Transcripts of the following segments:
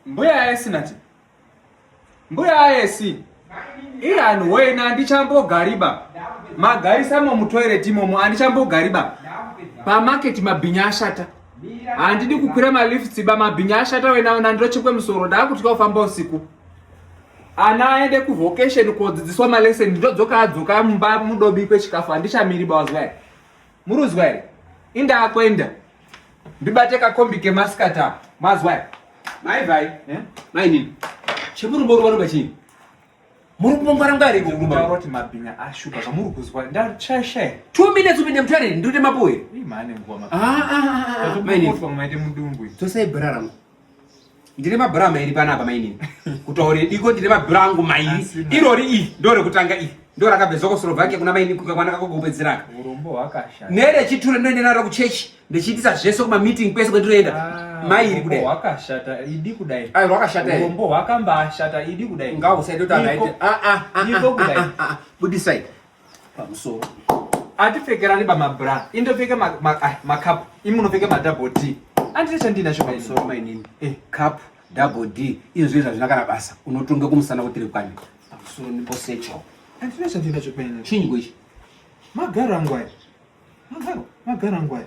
Mbuya aesi nati. Mbuya aesi. Ian wena andichambogariba. Magaisa mo mutoilet imomo andichambogariba. Pa market mabhinya ashata. Handidi kukwira ma lifts ba mabhinya ashata wena wena ndirochekwe musoro ndakutya kufamba usiku. Ana aende ku vocation kodzidziswa ma lesson ndodzoka adzoka mumba mudobikwe chikafu handichamiri bawazwai. Muruzwa here? Inda akwenda. Ndibate kakombi kemasikati apa. Mazwa here? Mai vai. Eh? Mai nini? Chemurumbo ruva ruva chini? Muri kumbongwara ngari ko kurumba. Ndaura kuti mabhinya ashupa zvamuri kuzwa. Ndachashe. 2 minutes upinde mutare ndute mapuwe. Imane ngoma. Ah ah ah. Mai nini? Tosai brara. ndine mabhura mairi panapa mainini kutaure diko ndine mabhura angu mairi irori iyi ndo rekutanga iyi ndo rakabve zokoslovhakia kuna mainini kukakwana kako kupedzeraka nerechiture ndoende naro kuchechi ndichiitisa zvese kumameeting kwese kwendinoenda ah, mairi kudai wakashata idi kudai ai wakashata rombo wakambashata idi kudai ngausaitoti anaite a a a budisai pamusoro atipfekerani bamabra indopfeka makapu ah, imi unopfeka madouble d andine chandinacho pamusoro mainini eh. cup double d izvo zvinhu zvazvina kana basa unotonga kumusana kutiri kwani pamusoro niposecho andine chandinacho paina chinyi kwechi magaro angu aya magaro magaro angu aya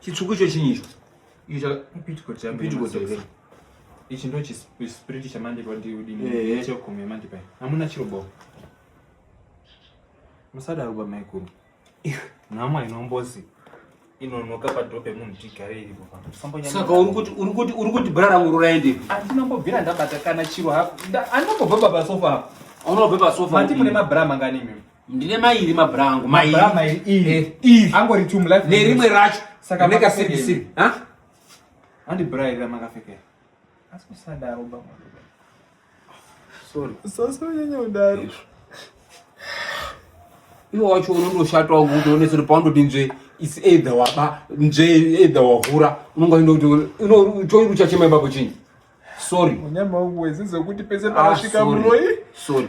chitsvuku icho chinyi icho ichi ndo chispiriti chamandi padiudinechegumi yamandi pai hamuna chirobawo musadaro bamaikuru nhama inombozi inonoka padhoo pemunhu tigare iripo saka uri kuti bra rangu ruraendepi andinombobvira ndabata kana chiro hako andinombobva pasofa apo unobva pasofa mati mune mabra mangani imimi ndine mairi mabra angu mairiangori eh, tumla nerimwe racho saka makasekisi handi bra iri ramakapfekera asi kusadaro baba sorry usasonyanya kudaro iwe wacho unondoshatwa kuti onese kuti paundoti nzve is either waba nzve either wahura unonga enda kuti choiri uchachema ipapo chinyi sorry unyama wangu wezizekuti pese ah, panosvika muroyi sorry